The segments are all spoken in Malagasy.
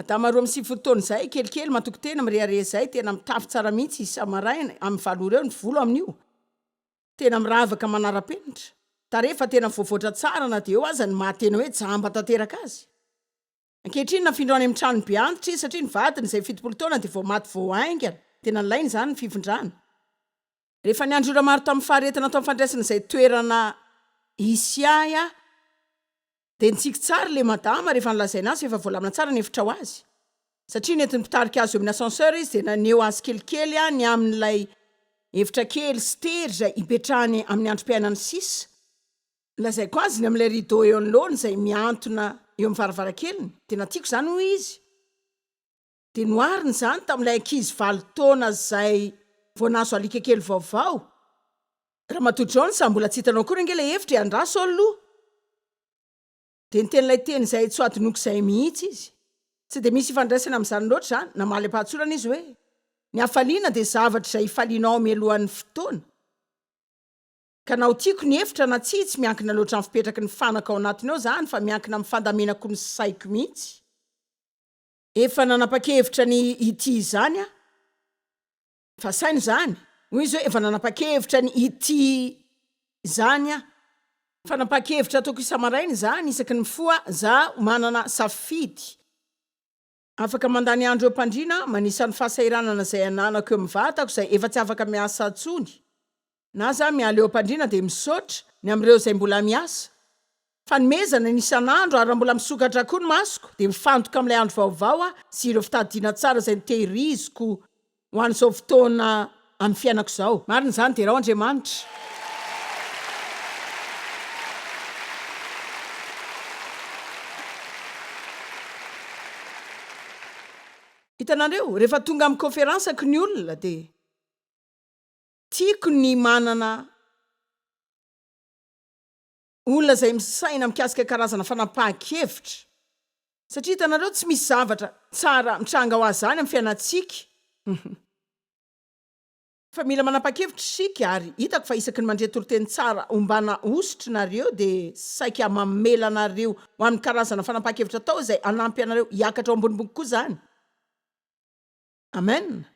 Adama roa amby sivifolo taona izay, kelikely, matoky tena, mirehareha izay, tena mitafy tsara mihitsy isa-maraina, amin'ny valo ora eo, ny volo amin'io tena miravaka manara-penitra, tarehy fa tena voavoatra tsara na dia eo aza ny maha tena hoe jamba tanteraka azy. Ankehitriny nafindra any amin'ny tranobe antitra izy satria ny vadiny izay fitopolo taona dia vao maty vao haingana, tena nilaina izany ny fifindrana. Rehefa niandry ora maro tamin'ny faharetana tao amin'ny fandraisana izay toerana hisy ahy aho, dia nitsiky tsara ilay madama rehefa nolazaina azy fa efa voalamina tsara ny efitra ho azy. Satria nentin'ny mpitarika azy eo amin'ny ascenseur izy, dia naneho azy kelikely aho ny amin'ilay efitra kely sy tery izay hipetrahany amin'ny androm-piainany sisa. Nolazaiko azy ny amin'ilay rideau eo anoloany izay mihantona eo amin'ny varavarankeliny. Tena tiako izany, hoy izy. Dia nohariny izany tamin'ilay ankizy valo taona izay vao nahazo alika kely vaovao. Ramatoa Jones, ary mbola tsy hitanao akory ange ilay efitra e, andraso aloha! Dia niteny ilay teny izay tsy ho hadinoko izay mihitsy izy. Tsy dia misy ifandraisany amin'izany loatra izany. Namaly am-pahatsorana izy hoe, Ny hafaliana dia zavatra izay ifalianao mialohan'ny fotoana. Ka na ho tiako ny efitra na tsia, tsy miankina loatra amin'ny fipetraky ny fanaka ao anatiny ao izany, fa miankina amin'ny fandamenako ny saiko mihitsy. Efa nanapa-kevitra ny hitia izany aho. Fa saino izany. Hoy izy hoe, Efa nanapa-kevitra ny hitia izany aho. Fanapahan-kevitra ataoko isa-maraina izany, isaky ny mifoha izaho manana safidy. Afaka mandany andro eo am-pandriana manisa ny fahasahiranana izay ananako eo amin'ny vatako, izay efa tsy afaka miasa intsony. na za miala eo ampandriana dia misaotra ny amin'ireo izay mbola miasa fanomezana ny isan'andro ary raha mbola misokatra koa ny masoko dia mifantoka amin'ilay andro vaovao aho sy ireo fitadidiana tsara izay notehiriziko ho an'izao fotoana amin'ny fiainako izao marina izany derao Andriamanitra hitanareo rehefa tonga amin'ny koferansako ny olona dia Tiako ny manana olona izay misaina mikasika karazana fanapahan-kevitra satria hitanareo tsy misy zavatra tsara mitranga ho azany amin'ny fiainantsika fa mila manapahan-kevitra isika ary hitako fa isaky ny mandre toriteny tsara ombana hosotry nareo dia saika mamela anareo ho amin'ny karazana fanapahan-kevitra atao izay hanampy anareo hiakatra ho ambonimbony kokoa izany. Amen!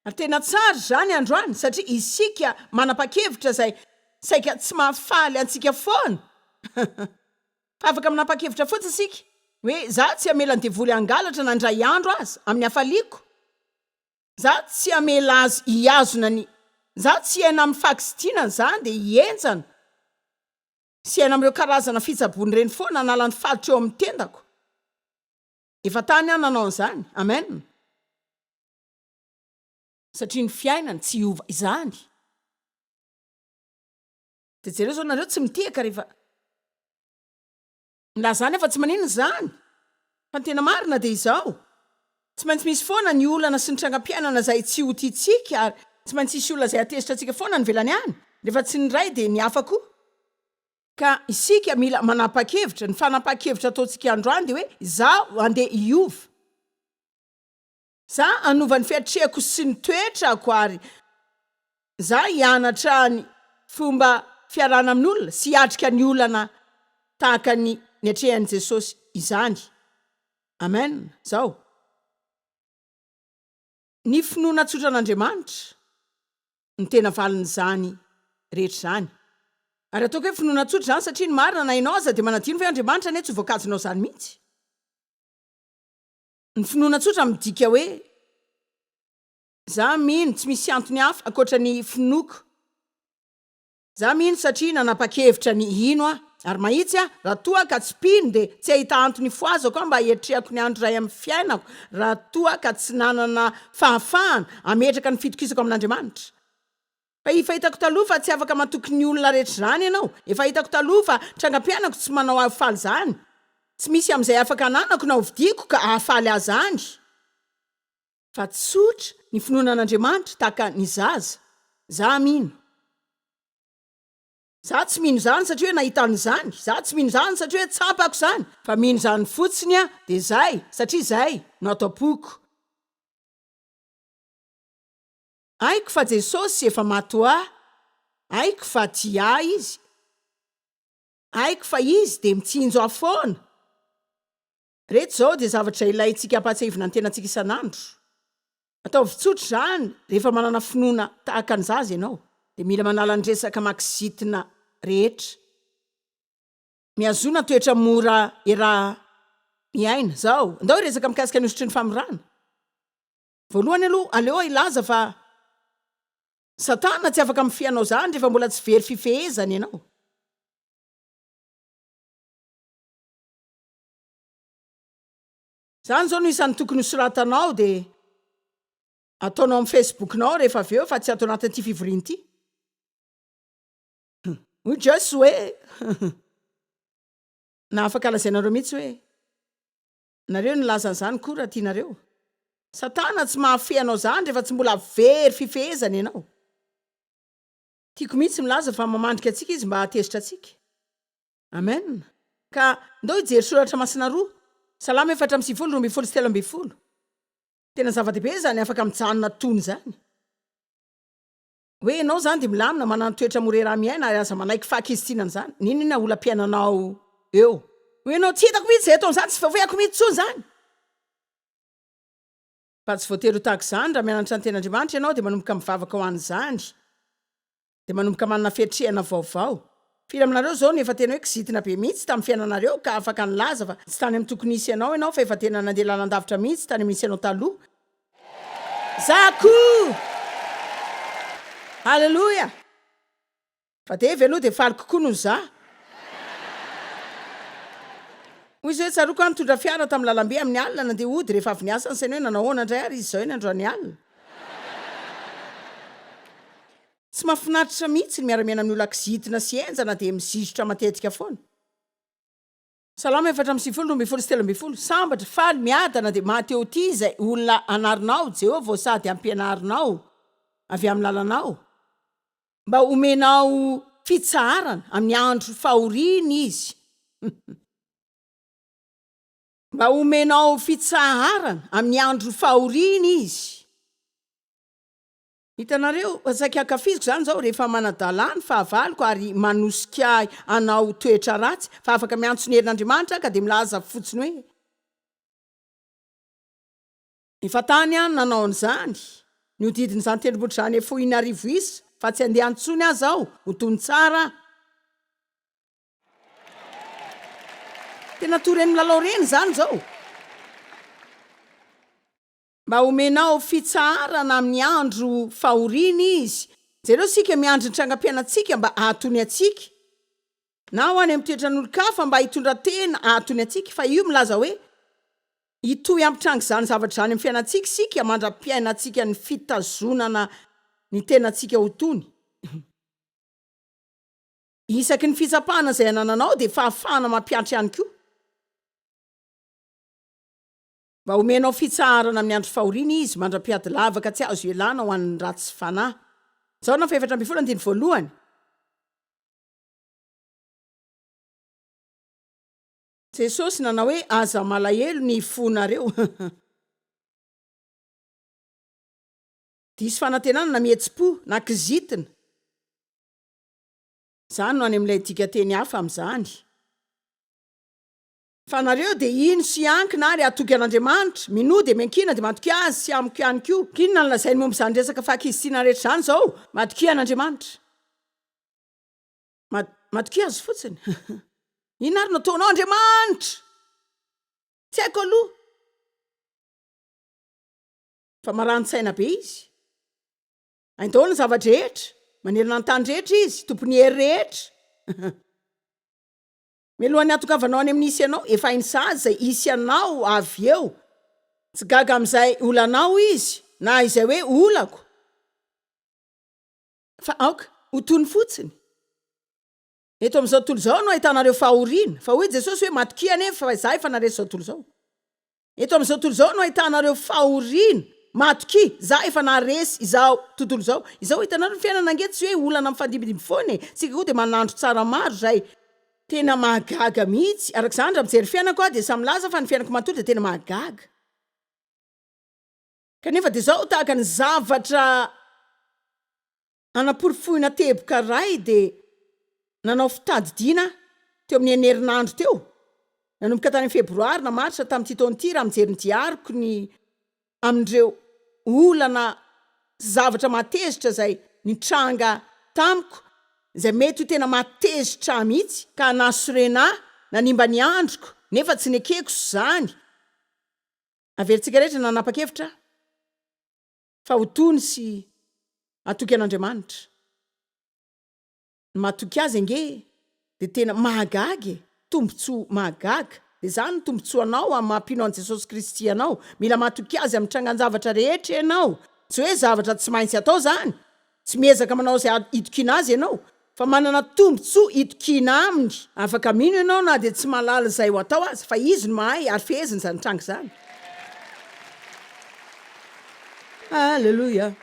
Ary tena tsara izany androany satria isika manapa-kevitra izay saika tsy mahafaly antsika foana. Fa afaka manapa-kevitra fotsiny isika hoe za tsy hamela ny devoly hangalatra na indray andro aza amin'ny hafaliako. Za tsy hamela azy hihazona ny za tsy hiaina amin'ny fahakizitinana za dia hihenjana sy hiaina amin'ireo karazana fitsaboana ireny foana hanala ny falitro eo amin'ny tendako. Efa tany aho nanao an'izany. Amen. Satria ny fiainany tsy hiova izany. Dia jereo izao nareo tsy mitehaka rehefa milaza izany aho fa tsy maninona izany. Fa ny tena marina dia izao. Tsy maintsy misy foana ny olana sy ny trangam-piainana izay tsy ho tiantsika ary tsy maintsy hisy olona izay hatezitra antsika foana any ivelany any. Rehefa tsy ny iray dia ny hafa koa. Ka isika mila manapa-kevitra, ny fanapahan-kevitra ataontsika androany dia hoe izaho andeha hiova. Izaho hanova ny fiatrehako sy ny toetrako ary izaho hianatra ny fomba fiarahana amin'olona sy hiatrika ny olana tahaka ny niatrehan'i Jesosy izany. Amen. Izao. Ny finoana tsotra an'Andriamanitra no tena valin'izany rehetra izany. Ary ataoko hoe finoana tsotra izany satria ny marina na ianao aza dia manadino ve Andriamanitra anie tsy ho voakajinao izany mihitsy. Ny finoana tsotra midika hoe za mino tsy misy antony hafa ankoatra ny finoako Za mino satria nanapa-kevitra ny hino aho. Ary mahitsy aho, raha toa ka tsy mpino dia tsy hahita antony hifohazako aho mba hiatrehako ny andro iray amin'ny fiainako, raha toa ka tsy nanana fahafahana hametraka ny fitokisako amin'Andriamanitra. Fa efa hitako taloha fa tsy afaka matoky ny olona rehetra izany ianao. Efa hitako taloha fa trangam-piainako tsy manao ahy faly izany. Tsy misy amin'izay afaka ananako na hovidiako ka hahafaly ahy izany. Fa tsotra ny finoana an'Andriamanitra tahaka ny zaza. Za mino. Za tsy mino zany satria hoe nahita an'izany, za tsy mino zany satria hoe tsapako zany, fa mino zany fotsiny aho de zay satria zay no ato am-poko. Haiko fa Jesosy efa maty ho ahy, haiko fa tia ahy Izy, haiko fa Izy de mitsinjo ahy foana. Ireto izao dia zavatra ilaintsika hampahatsiahivina ny tenantsika isan'andro. Ataovy tsotra izany, Rehefa manana finoana tahaka ny zaza ianao, dia mila manala ny resaka maksitina rehetra. Mihazona toetra mora iaraha-miaina izao. Andao hiresaka mikasika ny hosotry ny famorana. Voalohany aloha, aleo hilaza fa Satana tsy afaka mifehy anao izany rehefa mbola tsy very fifehezana ianao. Izany izao no isan'ny tokony ho soratanao dia ataonao amin'ny Facebook-nao rehefa avy eo fa tsy ato anatin'ity fivoriana ity. Hoy Joyce hoe na afaka lazainareo mihitsy hoe nareo nilaza an'izany koa raha tianareo. Satana tsy mahafehy anao izany rehefa tsy mbola very fifehezana ianao. Tiako mihitsy milaza fa mamandrika antsika izy mba hahatezitra antsika. Amen! Ka ndao hijery soratra masina roa, Salamo efatra amby sivifolo, roa ambin'ny folo sy telo ambin'ny folo. Tena zava-dehibe izany, afaka mijanona tony izany. Hoe ianao izany dia milamina, manana toetra mora iaraha miaina ary aza manaiky fahakizitinana izany, n'inon'inona olam-piainanao eo. Hoy ianao, tsy hitako mihitsy izay ataony izany, tsy voafoy ako mihitsy intsony izany. Fa tsy voatery ho tahaka izany, raha mianatra ny tenin'Andriamanitra ianao dia manomboka mivavaka ho an'izany. Dia manomboka manana fiatrehana vaovao. Firy aminareo izao no efa tena hoe kizitina be mihitsy tamin'ny fiainanareo ka afaka nilaza fa tsy tany amin'ny tokony hisy anao ianao fa efa tena nandeha lalandavitra mihitsy tany amin'ny nisy anao taloha? Za koa! Haleloia! Fa Davy aloha dia faly kokoa noho za. Hoy izy hoe, Tsaroako aho nitondra fiara tamin'ny lalambe amin'ny alina nandeha hody rehefa avy niasa, ny sainy hoe nanao ahoana indray ary izy izao eny androany alina? Tsy mahafinaritra mihitsy ny miara-miaina amin'ny olona kizitina sy henjana dia mizizotra matetika foana. Salamo efatra amby sivifolo, roa ambin'ny folo sy telo ambin'ny folo, Sambatra, faly, miadana dia maty eo ty izay olona anarinao Jehovah ô sady ampianarinao avy amin'ny lalanao, mba homenao fitsaharana amin'ny andro fahoriany izy. Mba homenao fitsaharana amin'ny andro fahoriany izy. Hitanareo, saika ankafiziko izany izao rehefa manadala ny fahavaloko ary manosika ahy hanao toetra ratsy, fa afaka miantso ny herin'Andriamanitra aho ka dia milaza fotsiny hoe. Efa tany aho no nanao an'izany, nihodidina izany tendrombohitra izany fohy in'arivo isa, fa tsy handeha intsony aza aho, ho tony tsara aho. Tena toa ireny milalao ireny izany izao. Mba homenao fitsaharana amin'ny andro fahoriana Izy. Jereo isika miandry ny trangam-piainantsika mba hahatony antsika, na ho any amin'ny toetran'olon-kafa mba hitondran-tena hahatony antsika, fa io milaza hoe hitohy hampitranga izany zavatra izany amin'ny fiainantsika isika mandra-piainantsika ny fitazonana ny tenantsika ho tony. Isaky ny fitsapana izay anananao dia fahafahana mampiantra ihany koa. Mba omenao fitsaharana amin'ny andro fahoriana izy, mandra-piady lavaka tsy azo ialana ho an'ny ratsy fanahy. Jaona fahefatra ambin'ny folo andininy voalohany. Jesosy nanao hoe, Aza malahelo ny fonareo. Diso fanantenana na mihetsi-po na kizitina. Izany no any amin'ilay dikanteny hafa amin'izany. Fa nareo dia hino sy hiankina ary hatoky an'Andriamanitra, minoa dia miankina dia matokia Azy sy amiko ihany koa. K'inona no lazainy momba izany resaka fahakizitina rehetra izany izao? Matokia an'Andriamanitra. Mat, matokia Azy fotsiny. Inona ary no ataonao? Andriamanitra! Tsy haiko aloha. Fa marani-tsaina be Izy. Hainy daholo ny zava-drehetra. Manerana ny tany rehetra Izy. Tompon'ny hery rehetra. Mialohan'ny hatokavanao any amin'ny hisy anao, efa hainy sahady izay hisy anao avy eo. Tsy gaga amin'izay olanao Izy, na izay hoe olako, fa aoka ho tony fotsiny. Eto amin'izao tontolo izao no ahitanareo fahoriana, fa hoy Jesosy hoe, Matokia anie, fa Izaho efa naharesy izao tontolo izao. Eto amin'izao tontolo izao no ahitana ireo fahoriana matokia, za efa naharesy izao tontolo izao izao, hitanareo ny fiainana ange tsy hoe olana mifandimbindimby foana e, tsika koa dia manandro tsara maro izay, tena mahagaga mihitsy, araka izany raha mijery fiainako aho dia samy milaza fa ny fiainako manontolo dia tena mahagaga, kanefa dia izao tahaka ny zavatra. Hanaporofoina teboka iray dia nanao fitadidiana aho teo amin'ny enina herinandro teo. Nanomboka tany amin'ny Febroary na Marsa tamin'ity taona ity raha mijery ny diariko ny amin'ireo olana sy zavatra mahatezitra izay nitranga tamiko izay mety ho tena mahatezitra ahy mihitsy ka nahasorena ahy, nanimba ny androko nefa tsy nekeko izany. Averintsika rehetra nanapa-kevitra aho. Fa ho tony sy hatoky an'Andriamanitra. Ny mahatoky azy ange dia tena mahagaga e! Tombontsoa mahagaga. Dia izany ny tombontsoanao amin'ny maha mpino an'i Jesosy Kristy anao. Mila mahatoky Azy amin'ny trangan-javatra rehetra ianao. Tsy hoe zavatra tsy maintsy atao izany, Tsy miezaka manao izay hitokiana Azy ianao, fa manana tombontsoa hitokiana Aminy. Afaka mino ianao na dia tsy mahalala izay ho atao aza, fa Izy no mahay ary feheziny izany tranga izany. Aleloia!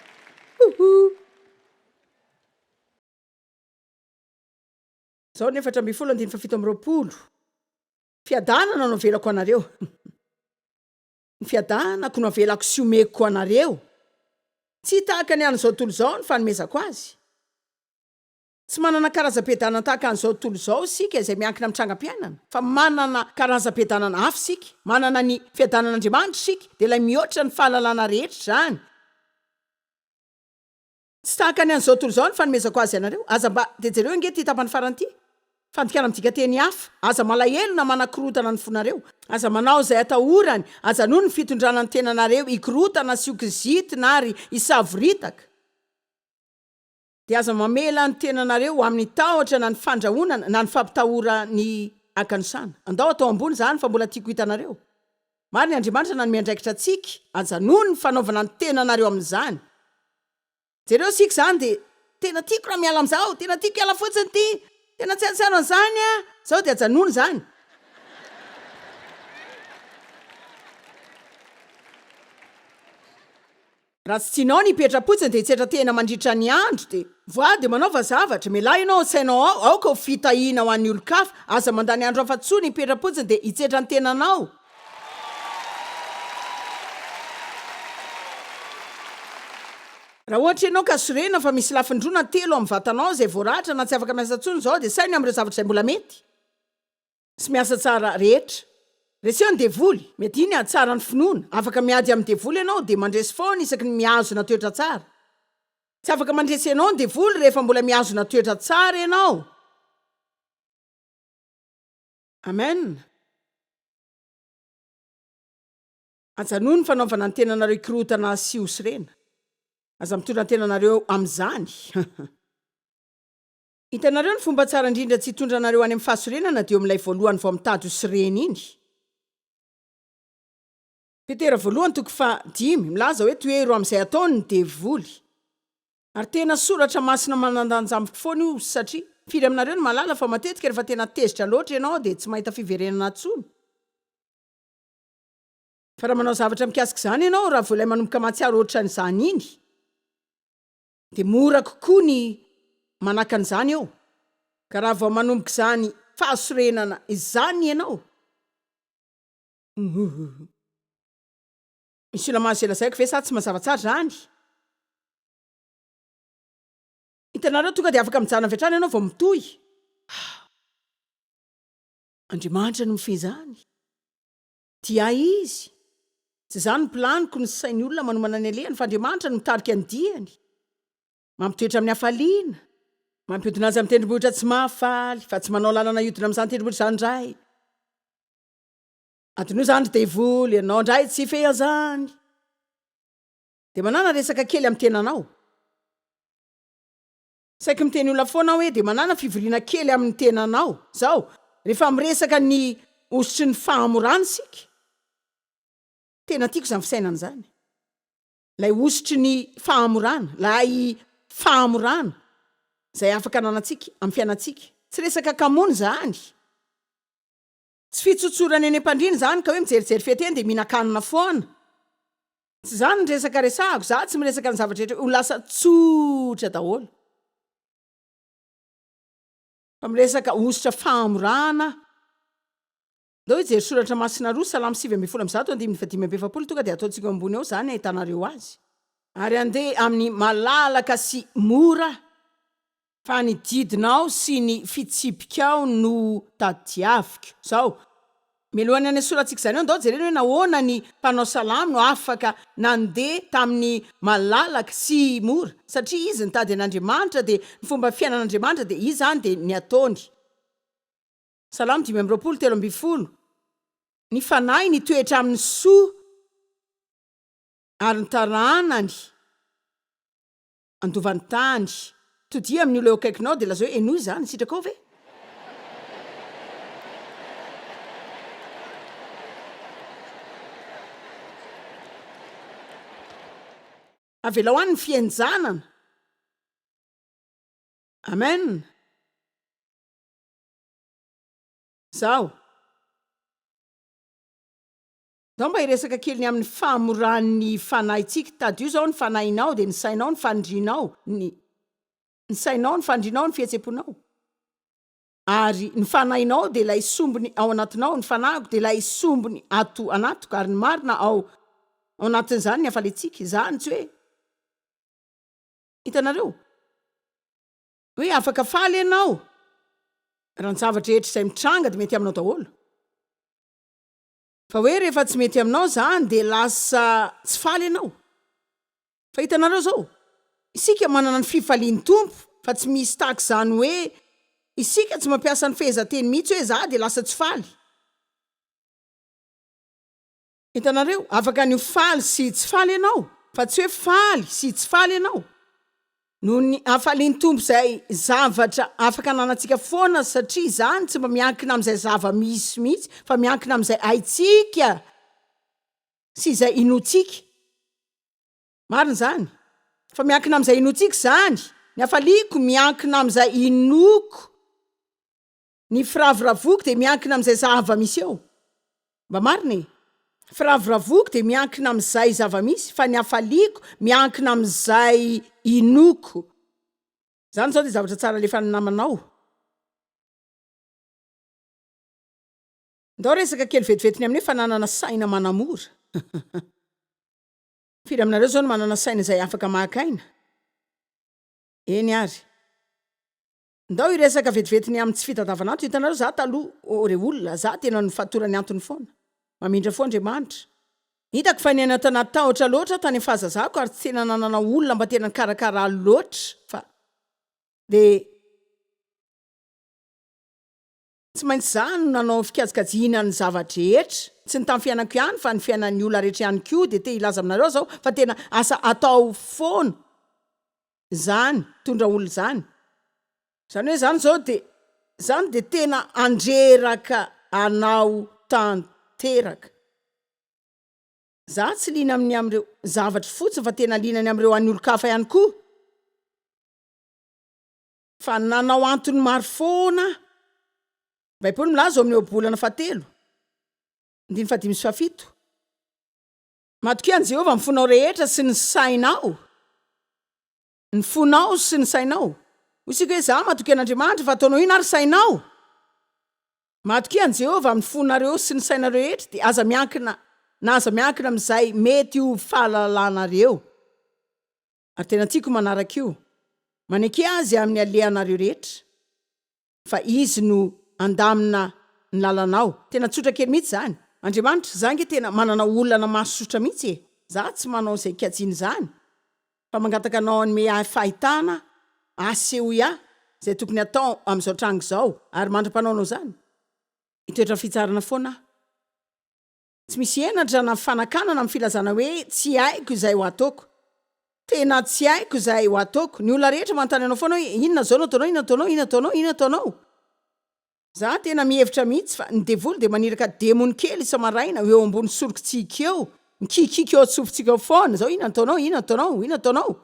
Woohoo! Izao ny efatra ambin'ny folo andininy fahafito amby roapolo, Fiadanana no avelako anareo. Ny fiadanako no avelako sy omeko anareo. Tsy tahaka ny an'izao tontolo izao ny fanomezako azy. Tsy manana karazam-piadanana tahaka an'izao tontolo izao isika izay miankina amin'ny trangam-piainana, fa manana karazam-piadanana hafa isika. Manana ny fiadanan'Andriamanitra isika, dia ilay mihoatra ny fahalalana rehetra izany. Tsy tahaka ny an'izao tontolo izao ny fanomezako azy anareo. Aza mba, dia jereo ange ity tapany farany ity, Fandikana midika teny hafa, Aza malahelo na manakorontana ny fonareo, aza manao izay atahorany, ajanony ny fitondrana ny tenanareo hikorontana sy ho kizitina ary hisavoritaka, dia aza mamela ny tenanareo ho amin'ny tahotra na ny fandrahonana na ny fampitahorany hakanosana. Andao atao ambony izany fa mbola tiako hitanareo. Marina, Andriamanitra nanome andraikitra antsika hajanony ny fanaovana ny tenanareo amin'izany. Jereo isika izany dia, Tena tiako raha miala amin'izao, tena tiako hiala fotsiny ity, tena tsiarotsiaro an'izany aho, izao dia ajanony izany. Raha tsy tianao ny hipetra-potsiny dia hitsetra tena mandritra ny andro dia. Voa dia manaova zavatra. Mialà ianao ao sainao ao, aoka ho fitahiana ho an'ny olon-kafa. Aza mandany andro hafa tsony hipetra-potsiny dia hitsetra ny tenanao. Raha ohatra ianao ka sorena fa misy lafiny roa na telo amin'ny vatanao izay voaratra na tsy afaka miasa tsony izao dia saino ny amin'ireo zavatra izay mbola mety. tsy miasa tsara rehetra. Reseho ny devoly, mety iny hahatsara ny finoana. Afaka miady amin'ny devoly ianao dia mandresy foana isaky ny mihazona toetra tsara. Tsy afaka mandresy anao ny devoly rehefa mbola mihazona toetra tsara ianao. Amen. Ajanony ny fanaovana ny tenanareo hikorotana sy ho sorena. Aza mitondra ny tenanareo amin'izany. Hitanareo ny fomba tsara indrindra tsy hitondra anareo any amin'ny fahasorenana dia eo amin'ilay voalohany vao mitady ho sorena iny. Petera voalohany toko faha dimy, milaza hoe tohero amin'izay ataony ny devoly. Ary tena soratra masina manan-danja amiko foana io satria, firy aminareo no mahalala fa matetika rehefa tena tezitra loatra ianao dia tsy mahita fiverenana intsony? Fa raha manao zavatra mikasika izany ianao, raha vao ilay manomboka mahatsiaro ohatran'izany iny, Dia mora kokoa ny manaka an'izany eo, ka raha vao manomboka izany fahasorenana izany ianao, Huhh. Ny silamany izay lazaiko ve sa tsy mazava tsara izany? Hitanareo, tonga dia afaka mijanona avy hatrany ianao vao mitohy. Hah. Andriamanitra no mifehy izany. Dia izy, Tsy izany ny planiko, ny sain'ny olona manomana ny alehany, fa Andriamanitra no mitarika ny diany, mampitoetra amin'ny hafaliana, mampiodina azy amin'ny tendrombohitra tsy mahafaly, fa tsy manao lalana hiodina amin'izany tendrombohitra izany indray. Adinoy izany ry devoly, ianao indray tsy hifehy an'izany. Dia manana resaka kely amin'ny tenanao. Saiky miteny olona foana aho hoe dia manàna fivoriana kely amin'ny tenanao izao rehefa miresaka ny hosotry ny fahamorana isika. Tena tiako izany fisainana izany. Ilay hosotry ny fahamorana, ilay fahamorana izay afaka ananantsika amin'ny fiainantsika. Tsy resaka kamoana izany. Tsy fitsotsorana eny am-pandriana izany ka hoe mijerijery fety eny dia mihinan-kanina foana. Tsy izany ny resaka resahako, izaho tsy miresaka ny zavatra rehetra ho lasa tsotra daholo, fa miresaka hosotra fahamorana aho. Andao hijery soratra masina roa, Salamo sivy ambin'ny folo amby zato, andininy faha dimy amby efapolo, tonga dia ataontsika eo ambony ao izany hahitanareo azy. Ary andeha amin'ny malalaka sy mora Fa ny didinao sy ny fitsipikao no tadiaviko. Izao, mialohan'ny hanesorantsika izany eo, andao jerena hoe nahoana ny mpanao salamo no afaka nandeha tamin'ny malalaka sy mora, satria izy nitady an'Andriamanitra, dia ny fomba fiainan'Andriamanitra, dia izany dia ny ataony. Salamo dimy amby roapolo, telo ambin'ny folo, Ny fanahy nitoetra amin'ny soa, ary ny taranany, Andova ny tany. Todia amin'ny olona eo akaikinao dia lazao hoe, Henoy izany, sitrakao ve? Avelao any ny fihenjanana. Amen. Izaho. Zao mba hiresaka kely ny amin'ny fahamoran'ny fanahintsika. Tadio zao ny fanahinao dia ny sainao, ny fandrinao, ny ny sainao, ny fandrinao, ny fihetsem-ponao. Ary ny fanahinao dia ilay sombiny ao anatinao, ny fanahiko dia ilay sombiny ato anatiko, ary ny marina ao ao anatin'izany ny hafalentsika. Izany tsy hoe, hitanareo? hoe afaka faly ianao raha ny zavatra rehetra izay mitranga dia mety aminao daholo. Fa hoe rehefa tsy mety aminao zany dia lasa tsy faly ianao? Fa hitanareo zao, isika manana ny fifalian'ny Tompo fa tsy misy tahaka izany hoe isika tsy mampiasa ny fehezanteny mihitsy hoe za dia lasa tsy faly. Hitanareo, afaka ny ho faly sy tsy faly ianao fa tsy hoe faly sy tsy faly ianao. Noho ny hafalian'ny Tompo izay zavatra afaka ananantsika foana satria izany tsy mba miankina amin'izay zava-misy mihitsy fa miankina amin'izay haintsika sy izay inoantsika. Marina izany. Fa miankina amin'izay inoantsika izany. Ny hafaliako miankina amin'izay inoako. Ny firavoravoako dia miankina amin'izay zava-misy eo. Mba marina e! Ny firavoravoako dia miankina amin'izay zava-misy fa ny hafaliako miankina amin'izay inoako. Izany izao dia zavatra tsara alefan'ny namanao. Ndao resaka kely vetivety ny aminay fananana saina manamora. Firy aminareo izao no manana saina izay afaka maka aina? Eny ary. Ndao hiresaka vetivety ny amin'ny tsy fitadavan'anto hitanareo za taloha oh re olona za tena nifatoran'ny antony foana. Mamindra fo Andriamanitra. Hitako fa niaina tao anaty tahotra loatra aho tany amin'ny fahazazako ary tsy tena nanana olona mba tena nikarakara ahy loatra fa dia Tsy maintsy izaho no nanao ny fikajikajiana ny zava-drehetra. Tsy ny tamin'ny fiainako ihany fa ny fiainan'ny olona rehetra ihany koa dia te hilaza aminareo izao fa tena asa atao foana izany mitondra olona izany. Izany hoe izany izao dia izany dia tena handreraka anao tanteraka. Izaho tsy liana amin'ny amin'ireo zavatry fotsiny fa tena liana ny amin'ireo an'ny olon-kafa ihany koa. Fa nanao antony maro foana aho. Ny Baiboly milaza ao amin'ny Ohabolana fahatelo, andininy fahadimy sy fahafito, Matokia an'i Jehovah ny fonao rehetra sy ny sainao. Ny fonao sy ny sainao. Hoy isika hoe, Izaho matokia an'Andriamanitra, fa ataonao inona ary sainao? Matokia an'i Jehovah amin'ny fonareo sy ny sainareo rehetra, dia aza miankina na aza miankina amin'izay mety ho fahalalanareo. Ary tena tiako manaraka io. Maneke Azy amin'ny alehanareo rehetra, fa Izy no handamina ny lalanao. Tena tsotra kely mihitsy izany. Andriamanitra, za ange tena manana olana masosotra mihitsy e! Za tsy manao izay kajiana izany, fa mangataka Anao hanome ahy fahitana hahasehoy ahy izay tokony hatao amin'izao tranga izao, ary mandra-panaonao izany, hitoetra fitsarana foana aho. Tsy misy henatra na fanakanana amin'ny filazana hoe tsy haiko izay ho ataoko. Tena tsy haiko izay ho ataoko. Ny olona rehetra manontany anao foana hoe inona izao no ataonao, inona ataonao, inona ataonao, inona ataonao. Za tena mihevitra mihitsy fa ny devoly dia maniraka demony kely isa-maraina eo ambony sorokintsika eo, mikikiky eo an-tsofintsika eo foana, izao inona ataonao, inona ataonao, inona ataonao.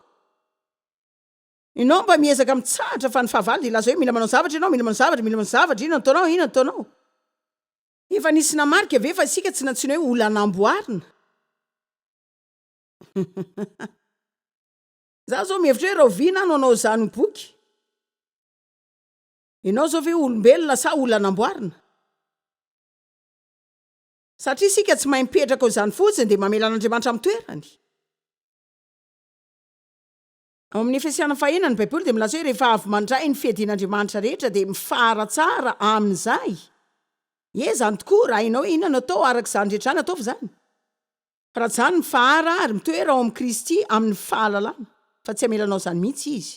Ianao mba miezaka mitsahatra fa ny fahavalo dia hilaza hoe mila manao zavatra ianao, mila manao zavatra, mila manao zavatra, inona ataonao, inona ataonao. Efa nisy namarika ve fa isika tsy nantsoina hoe olona namboarina? Izaho izao mihevitra hoe rahoviana aho no hanao izany ho boky? Ianao izao ve olombelona sa olona namboarina? Satria isika tsy mahay mipetraka ao izany fotsiny dia mamela an'Andriamanitra amin'ny toerany. Ao amin'ny Efesiana fahena, ny Baiboly dia milaza hoe rehefa avy mandray ny fiadian'Andriamanitra rehetra dia mifaratsara amin'izay. Ie, izany tokoa, raha hainao hoe inona no atao araka izany rehetra izany, ataovy izany. Farajany mifahara ary mitoera ao amin'i Kristy amin'ny fahalalana, fa tsy hamela anao izany mihitsy Izy.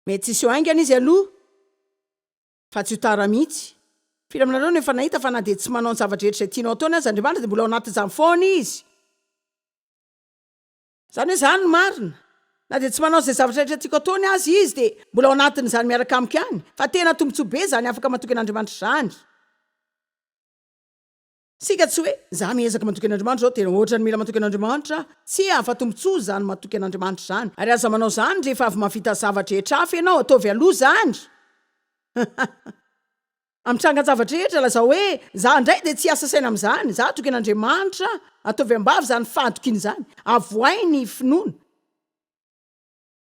Mety tsy hiseho haingana Izy aloha, fa tsy ho tara mihitsy. Firy aminareo no efa nahita fa na dia tsy manao ny zava-drehetra izay tianao ataony aza Andriamanitra, dia mbola ao anatin'izany foana Izy? Izany hoe izany ny marina. Na dia tsy manao izay zavatra rehetra tiako ataony aza izy dia mbola ao anatin'izany miaraka amiko ihany. Fa tena tombontsoa be izany afaka matoky an'Andriamanitra izany. Isika tsy hoe, izaho miezaka matoky an'Andriamanitra izao, tena ohatrany mila matoky an'Andriamanitra aho. Tsia, fa tombontsoa izany matoky an'Andriamanitra izany. Ary aza manao izany rehefa avy mahavita zava-drehetra hafa ianao, ataovy aloha izany. Amin'ny trangan-javatra rehetra, lazao hoe, Izaho indray dia tsy hiasa saina amin'izany. Izaho hatoky an'Andriamanitra. Ataovy am-bava izany fahatokiana izany. Avohay ny finoana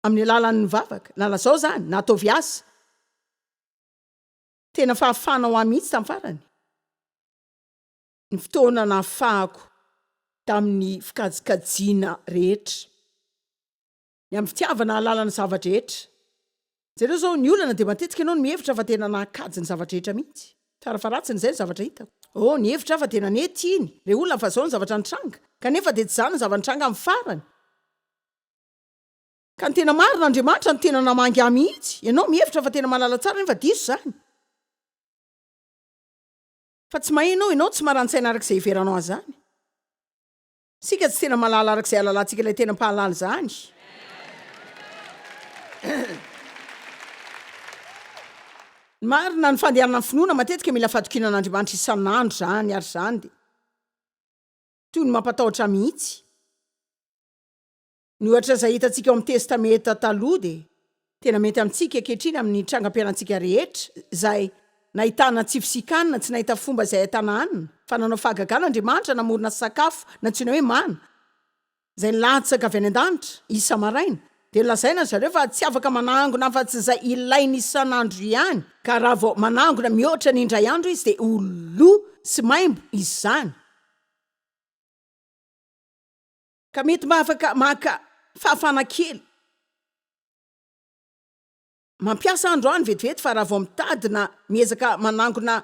amin'ny alalan'ny vavaka, na lazao izany, na ataovy asa. Tena fahafahana ho ahy mihitsy tamin'ny farany ny fotoana nahafahako tamin'ny fikajikajiana rehetra. Ny amin'ny fitiavana hahalala ny zava-drehetra. Jereo izao, ny olana dia matetika ianao no mihevitra fa tena nankajy ny zava-drehetra mihitsy. Tsara fa ratsiny izay ny zavatra hitako. Oh, nihevitra aho fa tena nety iny, ilay olona fa izao ny zavatra nitranga. Kanefa dia tsy izany ny zava-nitranga amin'ny farany. Ka ny tena marina, Andriamanitra no tena namangy ahy mihitsy. Ianao mihevitra fa tena mahalala tsara nefa diso izany. Fa tsy maheno aho, ianao tsy maran-tsaina araka izay hiheveranao azy izany. Isika tsy tena malala araka izay alalantsika ilay tena mpahalala izany. Marina ny fandehanan'ny finoana matetika mila fatokiana an'Andriamanitra isan'andro izany ary izany dia toy ny mampatahotra mihitsy. Mihoatra izay hitantsika ao amin'ny Testamenta Taloha dia tena mety amintsika ankehitriny amin'ny trangam-pianantsika rehetra izay nahitana tsy fisikanina, tsy nahita fomba izay ahitana hanina, fa nanao fahagagana Andriamanitra namorona sakafo nantsoina hoe mana izay nilatsaka avy any an-danitra isa-maraina, dia nolazaina ry zareo fa tsy afaka manangona afa-tsy izay ilainy isan'andro ihany, ka raha vao manangona mihoatra ny indray andro izy dia ho lo sy maimbo izany. Ka mety mba afaka maka fahafana kely. Mampiasa androany vetivety fa raha vao mitady na miezaka manangona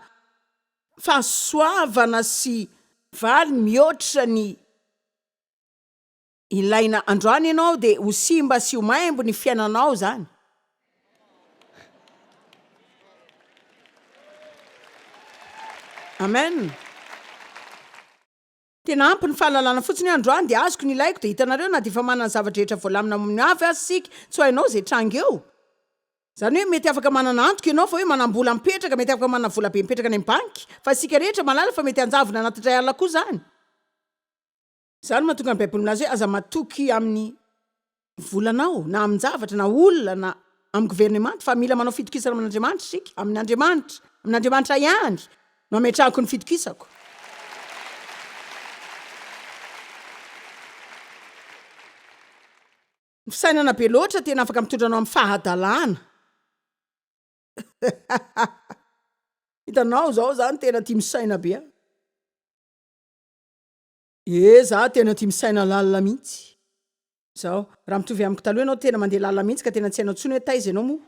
fahasoavana sy. Valiny mihoatra ny ilaina androany ianao dia ho simba sy ho maimbo ny fiainanao izany. Amen. Tena ampy ny fahalalana fotsiny hoe androany dia azoko ny ilaiko dia hitanareo na dia efa manana ny zava-drehetra voalamina amin'ny ho avy aza isika tsy ho hainao izay hitranga eo. Izany hoe mety afaka manana antoka ianao fa hoe manam-bola mipetraka, mety afaka manana volabe mipetraka any amin'ny banky fa isika rehetra mahalala fa mety hanjavona anaty indray alina koa izany. Izany no mahatonga ny Baiboly milaza hoe aza matoky amin'ny. volanao na amin-javatra na olona na amin'ny governemanta fa mila manao fitokisana amin'Andriamanitra isika, amin' Andriamanitra, amin'Andriamanitra ihany no ametrahako ny fitokisako. Ny fisainana be loatra tena afaka mitondra anao amin'ny fahadalana. Hitanao izao za no tena tia misaina be a. Ee zah tena tia misaina lalina mihitsy zao raha mitovy amiko taloha ianao tena mandeha lalina mihitsy ka tena tsy hainao intsony hoe taiza ianao moa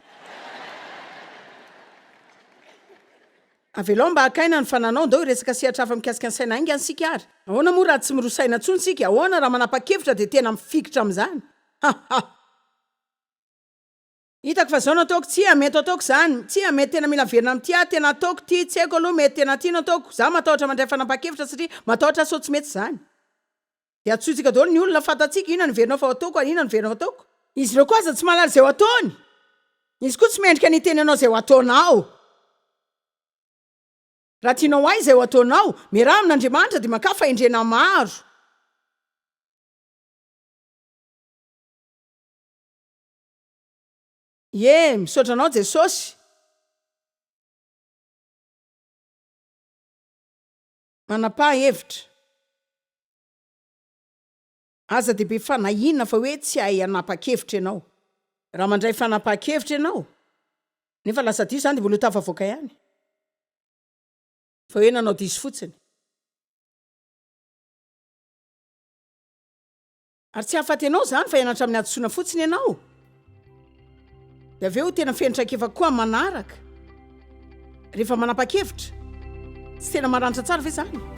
Avelao mba haka aina ny fananao ndao hiresaka sehatra hafa mikasika ny saina hainga isika ary ahoana moa raha tsy miroa saina intsony isika ahoana raha manapa-kevitra dia tena mifikitra amin'izany ha ha. Hitako fa zao no ataoko, tsia mety ho ataoko zany, tsia mety tena mila averina amin'ity aho, tena ataoko ity, tsy haiko aloha mety tena ity no ataoko, za matahotra mandray fanapahan-kevitra satria matahotra sao tsy mety zany. De hadisoantsika daholo ny olona, fantatsika inona no heverinao fa ho ataoko ary inona no heverinao ho ataoko. Izy ireo koa aza tsy mahalala izay ho ataony, izy koa tsy mendrika ny hiteny anao izay ho ataonao. Raha tianao ho hay izay ho ataonao, miaraha amin'Andriamanitra dia mankafy fahendrena maro. Ye, misaotra anao Jesosy. Manapaha hevitra. Aza dia be fanahiana fa hoe tsy hahay hanapa-kevitra ianao. Raha mandray fanapahan-kevitra ianao, nefa lasa diso izany dia mbola ho tafavoaka ihany fa hoe nanao diso fotsiny. Ary tsy hahafaty anao izany fa hianatra amin'ny hadisoana fotsiny ianao. Dia avy eo tena feno traikefa koa amin'ny manaraka. Rehefa manapa-kevitra, tsy tena maranitra tsara ve izany?